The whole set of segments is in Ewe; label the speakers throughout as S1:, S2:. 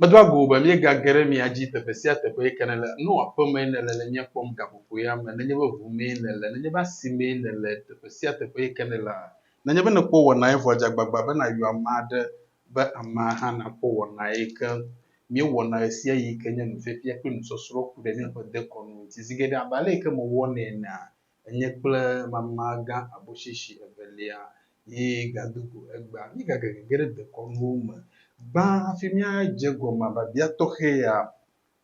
S1: Medoa go be míegage ɖe mia dzi teƒe sia teƒe yi ke nèle, ne wò aƒe mee nèle le mía kpɔm, gaƒoƒoea me, nenye be ʋu mee nèle, nenye be asi mee nèle, teƒe sia teƒe yi ke nèlea, nenye be nèkpɔ wɔnae vɔ dze agbagba be nàyɔ ame aɖe be amea hã nakpɔ wɔnae ke. Míewɔna ɣesiaɣi yi ke nye nufiafia kple nusɔsrɔ̃ ku ɖe míaƒe dekɔnu ŋuti zi geɖe abe ale yi ke mewɔnɛ enea? enye kple mama gã aboshishi evelia yi gado go egbea. Míegage gege ɖe dekɔnuwo me. Gbã hafi míadze egɔme biabia tɔxɛ ya,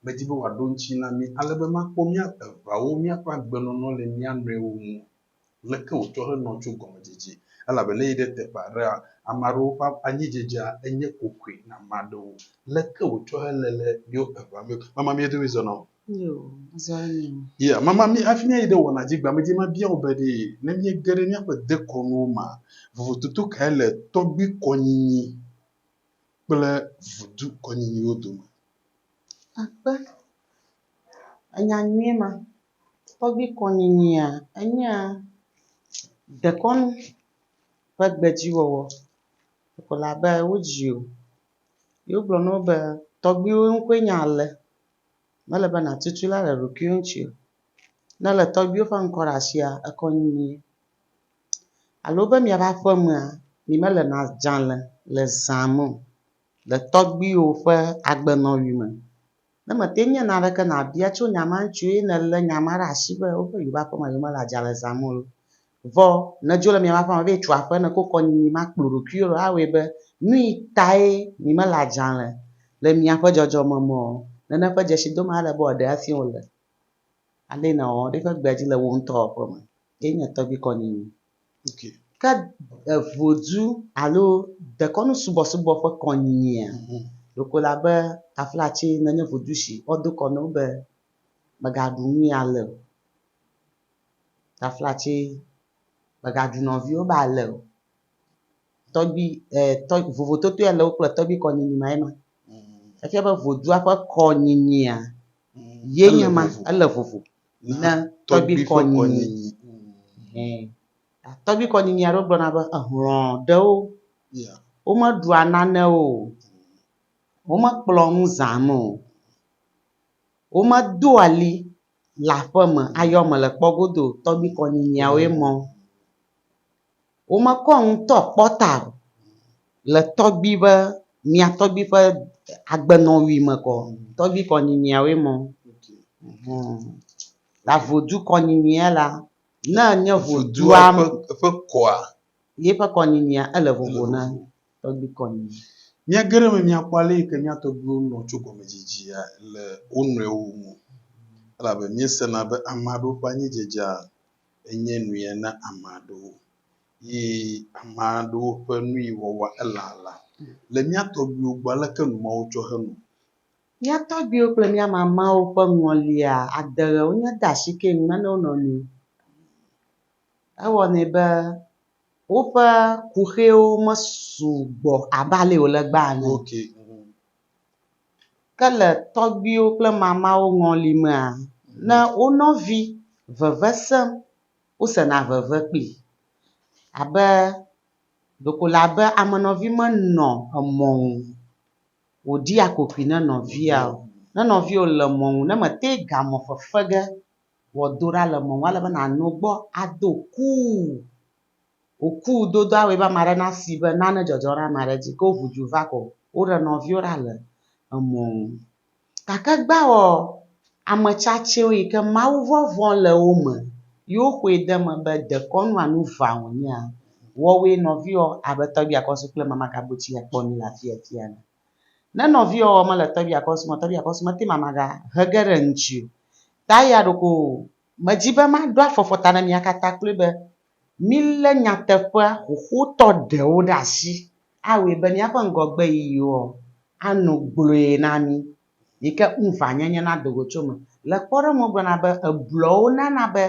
S1: medi be wòaɖo ŋuti na mí ale be makpɔ mía eveawo míaƒe agbenɔnɔ le mía nɔewo ŋu. Leke wòtsɔ henɔ tso gɔmedzedze? Elabena yi ɖe teƒe aɖea, ame aɖewo ƒe anyidzedzea enye kokoe na ame aɖewo. Leke wòtsɔ hele le míwo evea me? Mama mía dome zɔna o.
S2: Ya, mama mi
S1: hafi míayi ɖe wɔna dzi gbea medzi mabia wò be ɖe ne míege ɖe míaƒe dekɔnuwo mea, vovototo kae le tɔgbuikɔnyinyi kple vudukɔnyinyiwo dome? Akpe,
S2: enya nyuie ma. Tɔgbuikɔnyinyia, enyea dekɔnu ƒe gbedziwɔwɔ. Ko la be wodzi wò ye wogblɔ na wò be tɔgbuiwò ŋkɔe nye ale. Mele be nàtu tu la le ɖokuiwò ŋuti o. Ne èlé tɔgbuiwò ƒe ŋkɔ ɖe asia, ekɔ nyuie. Alo be miaƒe aƒemea, mi mele na dzalẽ le zã me o, le tɔgbuiwò ƒe agbenɔɣi me. Ne mète ŋu nye naneke nàbia tso nya ma ŋuti o eye nèlé nya ma ɖe asi be woƒe yewoƒe aƒemea yewomele adzalẽ zãm o la, Vɔ ne dzo le mia maƒe ame be yetso aƒe ne ko kɔ nyinyi ma kplo ɖokuiwo ɖo awɔe be, Nuyi tae mi mele adzalɛ le miaƒe dzɔdzɔme me o? Nene ƒe dzesi dom ale be wòaɖe asi wò le alee nèwɔwɔ ɖe eƒe gbea dzi le wò ŋutɔ wɔƒe me. Ye nye tɔgbui kɔ nyinyi. Okay.
S1: Ke
S2: vodzu alo dekɔnu subɔsubɔ ƒe kɔ nyinyia? Ɖeko le abe taflatsi ne nye vodzu si woado kɔ na wo be, Mègaɖu nuyi ale o. Taflatse, mègaɖu nɔviwò be ale o. Tɔgbui e tɔ vovototoe ale wo kple tɔgbui kɔnyinyi mae ma. Efia be vodua ƒe kɔnyinyia ye nye ma ele vovo na tɔgbui kɔnyinyi. Hɛ tɔgbui kɔnyinyi aɖewo gblɔna be ehlɔ̃ ɖewo
S1: womeɖua
S2: nane o, womekplɔ nu zãna o, womedoa li le aƒeme ayɔ mele kpɔ godo tɔgbi kɔ nyinyiawo ye mɔ. Wo me kɔ nu tɔ kpɔ ta o le tɔgbi be mia tɔgbi ƒe agbenɔnui me kɔ tɔgbi kɔ nyinyiawo ye mɔ. Humm. La vodu kɔ nyinyia la ne enye vodua ƒe kɔa
S1: ye ƒe kɔ
S2: nyinyia ele vovo na. Tɔgbi kɔ nɛ. Mía geɖe me
S1: míakpɔ ale yi ke mía tɔgbiwo nɔ tso gɔmedzidzea le wo nɔewo ŋu, elabe míesena be ame aɖewo ƒe anyidzedzea enye nuyẽ na ame aɖewo, yi ame aɖewo ƒe nuyi wɔwɔa elala. Le mía tɔgbiwo gbɔ, aleke nu mawo tsɔ henɔ? Mía
S2: tɔgbiwo kple mía mamawo ƒe ŋɔlia ade ɣe wonye de asi keŋ me na wo nɔnɔewo. Ewɔnɛ be. woƒe kuxiwo mesu gbɔ abe ale wòle egbea ene o. Ke le tɔgbuiwo kple mamawo ŋɔli mea, ne wo nɔvi veve sem, wosena veve kpli abe ɖeko le abe ame nɔvi menɔ emɔ ŋu wòɖia kokoe ne nɔvia o. Ne nɔvia le mɔ ŋu ne mete ŋu gamɔ fefe ge Wɔ do ɖa le mɔnu ale be nàno gbɔ ado kuu. Wò kuu dodoa wɔe be ame aɖe nasi be nane dzɔdzɔ ɖe ame aɖe dzi. Ke wo ŋu dzi va kɔ o. Woɖe nɔviwo ɖa le emɔ nu. Gake gbawɔ ame tsatsewo yi ke mawuvɔvɔ̃ le wo me ye woxɔe de eme be dekɔnu alo nu ʋã wònyea, wɔwɔe nɔviwɔ abe tɔgbia kɔ su kple mamagabotsi akpɔ nu le afiafi ene. Ne nɔviɔ ɔ mele tɔbia kɔ sumɔ tɔbia kɔ sumɔ te ma ma ga hege ɖe ŋtsi o. Ta eya ɖoko me dzi be ma ɖo afɔfɔ ta ne mia kata kloe be mi le nyateƒea xoxotɔ ɖewo ɖe asi a wɔe be miaƒe ŋgɔgbe yiyiwo ɔ a nu gblɔe na mi yike ŋuva nyenye na dogo tso me. Le kpɔɖeŋu wo gblɔna be eblɔwo nana be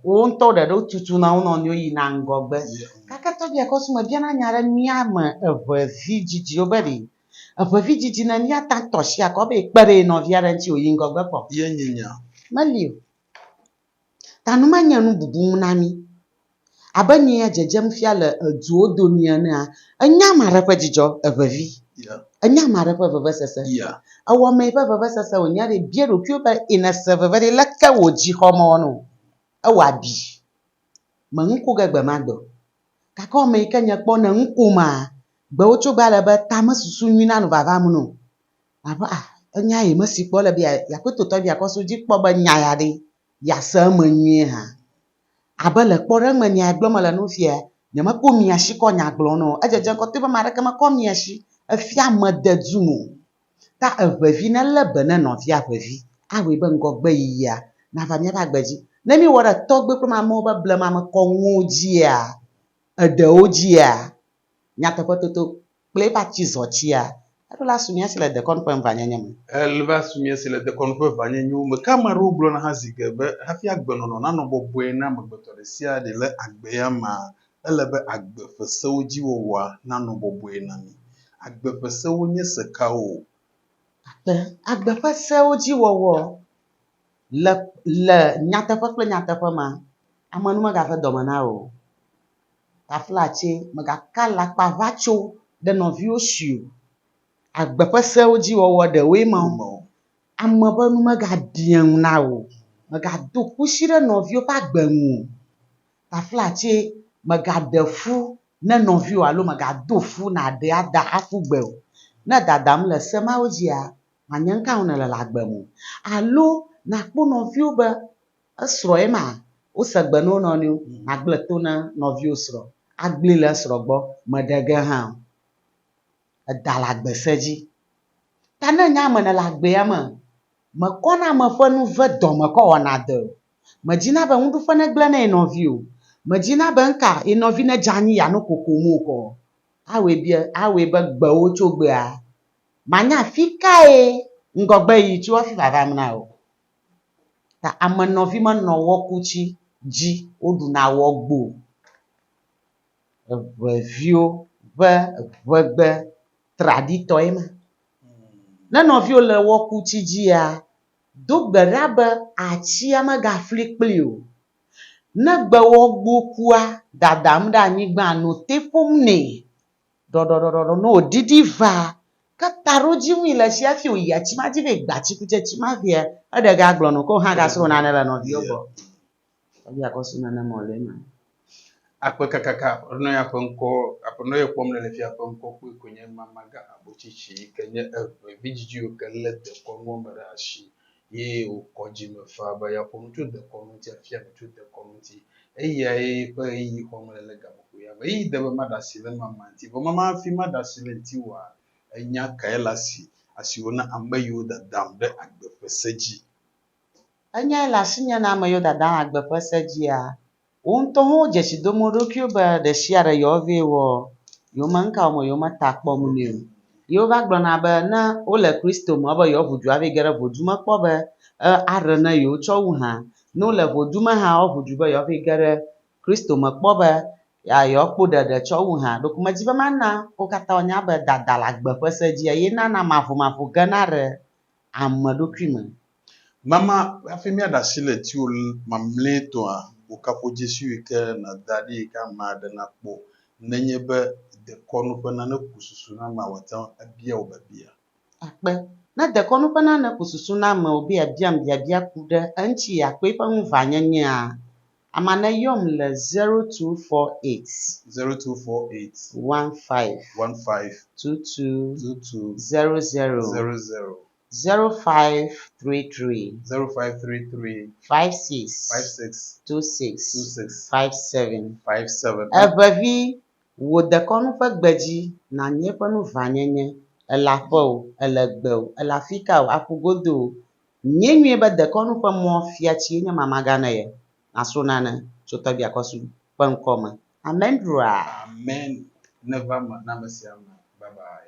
S2: wowo ŋutɔ ɖe ɖo tutuna wo nɔ nɔewo yina ŋgɔgbe. Gake tɔgbia kɔ sumɛ bia na nya ɖe mía me eve vi dzidzi wo be ɖi eve vi dzidzi ne mía ta tɔ asi akɔ be ekpe ɖe ye nɔvia ɖe ŋuti woyi ŋgɔgbe kpɔ. Ye nyi nya.
S1: Meli o.
S2: Ta nu ma nye nububu ŋu na mí. Abe nyea dzedzem fia le duwo domi enea,
S1: ènya
S2: ame aɖe ƒe dzidzɔ, evevi. Ènya ame aɖe ƒe vevesese. Èwɔ ame
S1: ƒe vevesese
S2: wònya ɖi. Bia ɖokuiwò be, Ẽ nèse veve ɖi? Leke wò dzi xɔ mɔ nɔ? Ewɔ abi. Mèŋu ku ge gbe ma gbe o. Gake wò ame yi ke nye kpɔ nèŋu kuma? Gbewo tso gbe ale be tame susu nyui nanɔ vava me nɔ. Nàbe, Ah, enya ye mesi kpɔ. Ele be yeakpɔe totɔ be yeakɔ asi dzi kpɔ be nya ya ɖe yease eme nyuie hã. Abe le kpɔɖeŋu me nea gblɔm mele na wo fia ya, nyemekpɔ mia si kɔ nya gblɔm na o. Edzedze ŋkɔ toe be ame aɖeke mekɔ mia si efia mede dum o. Ta eŋevi nelé be ne nɔvia ƒe vi awɔe be ŋgɔgbeyiyia nava míaƒe agbe dzi. Ne míewɔ ɖe tɔgbe kple mamewo ƒe blemamekɔnuwo dzia, eɖewo dzia, nyateƒetoto kple eƒe atizɔtia, eɖo la su mía si le dekɔnu ƒe ŋvanyenye me. Eva su mía si
S1: le dekɔnu ƒe ŋvanyenyewo me. Ke ame aɖewo gblɔna hã zi ge be hafi agbenɔnɔ nanɔ bɔbɔe na amegbetɔ ɖe sia ɖe le agbe ya mea, ele be agbe ƒe sewo dzi wɔwɔa nanɔ bɔbɔe na mí. Agbe ƒe sewo nye se kawo?
S2: Gake agbe ƒe sewo dzi wɔwɔ le le nyateƒe kple nyateƒe mea, ame nu megave dɔme na wò o. Taflatse, Mègaka alakpa ʋatso ɖe nɔviwò si o. Agbe ƒe sewo dzi wɔwɔ ɖewoe ma o. Ame ƒe nu megaɖia ŋu na wò o. Mègado kusi ɖe nɔviwò ƒe agbe ŋu o. Taflatse, Mègaɖe fu ne nɔviwò alo mègado fu nàɖe ada aƒu gbe o. Ne dadam le se mawo dzia, mànya nu ka ŋu nèle le agbe me o. Alo nàkpɔ nɔviwò be Esrɔ̃ ye ma, wose gbe na wo nɔnɔewo, Màgblẽ to na nɔviwò srɔ̃ agblẽe le esrɔ̃ gbɔ, mèɖe ge hã o. Eda le agbe se dzi. Ta ne nye ame nèle agbea me, mèkɔna ame ƒe nu ve dɔme kɔ wɔna dɔe o. Mèdina be nuɖuƒe negblẽ na ye nɔvi o. Mèdina be nu ka ye nɔvi nedze anyi yeano kokom o kɔ. Awɔe be, awɔe be gbewò tso gbea, manya afi kae ŋgɔgbeɣi tso hafi vava eme na wò. Ta ame nɔvi menɔ wɔku tsi dzi woɖuna wɔ gbo. Eŋeviwo ƒe ŋegbe traditɔe ma. Ne nɔviwo le wɔku tsi dzia, do gbe ɖa be atsia megafli kpli o. Ne gbewɔ gbo kua, dadam ɖe anyigba no te ƒom nɛ. Ɖɔɖɔɖɔɖɔɖɔ no o ɖiɖi va ke taɖodzi ŋui le tsi hafi wòyi atsi ma dzi be gba tsikutsetsi ma vea, eɖe ga gblɔ nɔ ke wò hã ga srɔ nane le nɔviwo gbɔ. Tɔgbi akɔ su nane mɔ le ema. Akpe
S1: kakaka Aƒenɔ ya ƒe ŋkɔ Aƒenɔ ye kpɔm nele fia ƒe ŋkɔ kpɔe koe nye Mama gã Habotsitsi yi ke nye eve vidzidziwo ke le dekɔnuwo me ɖe asi ye wòkɔ dzi me faa be yeaƒo nu tso dekɔnu ŋuti, afia nu tso dekɔnu ŋuti. Eyae ƒe ɣeyiɣi xɔm mele le gaƒoƒo ya me. Ɣeyiɣi de be maɖe asi le nua ma ŋuti. Vɔ mama hafi maɖe asi le eŋuti oa, enya kae le asi, asi wò na ame yiwo dadam ɖe agbe ƒe se dzi? Enyae
S2: le asinye na ame yiwo dadam agbe ƒe se dzia? Wo ŋutɔ hã wo dzesi dom wo ɖokuiwo be ɖe sia ɖe yewoa ve wɔ yewo me nuka wɔm yewo me ta kpɔm nɛ o. Ye wova gblɔ na be ne wole Kristo me be yewoaʋu du ava yi ge ɖe ʋudu me kpɔ be aɖe ne yewo tsɔ wu hã. Ne wole ʋudu me hã woaʋu du be yewoava yi ge ɖe Kristo me kpɔ be yewoa kpɔ ɖeɖe tsɔ wu hã. Ɖeko medzi be mana wo katã woanya be dada le agbe ƒe se dzi eye nana maʋumaʋu gena ɖe ame ɖokui me. Mama,
S1: hafi míaɖe asi le etiwò mamlɛtɔa, wò kaƒodzesiwo yi ke nàda ɖi yi ke ame aɖe nakpɔ nenye be dekɔnu ƒe nane ku susu na amea wòate ŋu abia wò biabia. Akpe.
S2: Ne dekɔnu ƒe nane ku susu na ame wòbe yeabiam biabia ku ɖe eŋuti akpe ƒe ŋuʋãnyenyea, ama neyɔm le zero two four eight. Zero two four eight.
S1: One five.
S2: One five. Two two. Two two. Zero zero. Zero zero. Zero five three three. Zero five three three. Five six. Five six. Two six. Two six. Five seven. Five seven. Eŋevi, wò dekɔnu ƒe gbe dzi nànyi eƒe nu ʋãnyenye, èle aƒe o, èle gbe o, èle afika o, aƒu godo o, nyie nyuie be dekɔnu ƒe mɔ fiatsi enye mamaga ne ye, nàsrɔ nane tso tɔgbia kɔsu
S1: ƒe ŋkɔ
S2: me. Amen
S1: ɖuaa. Amen neva
S2: me
S1: na ame
S2: sia ame. Bye bye.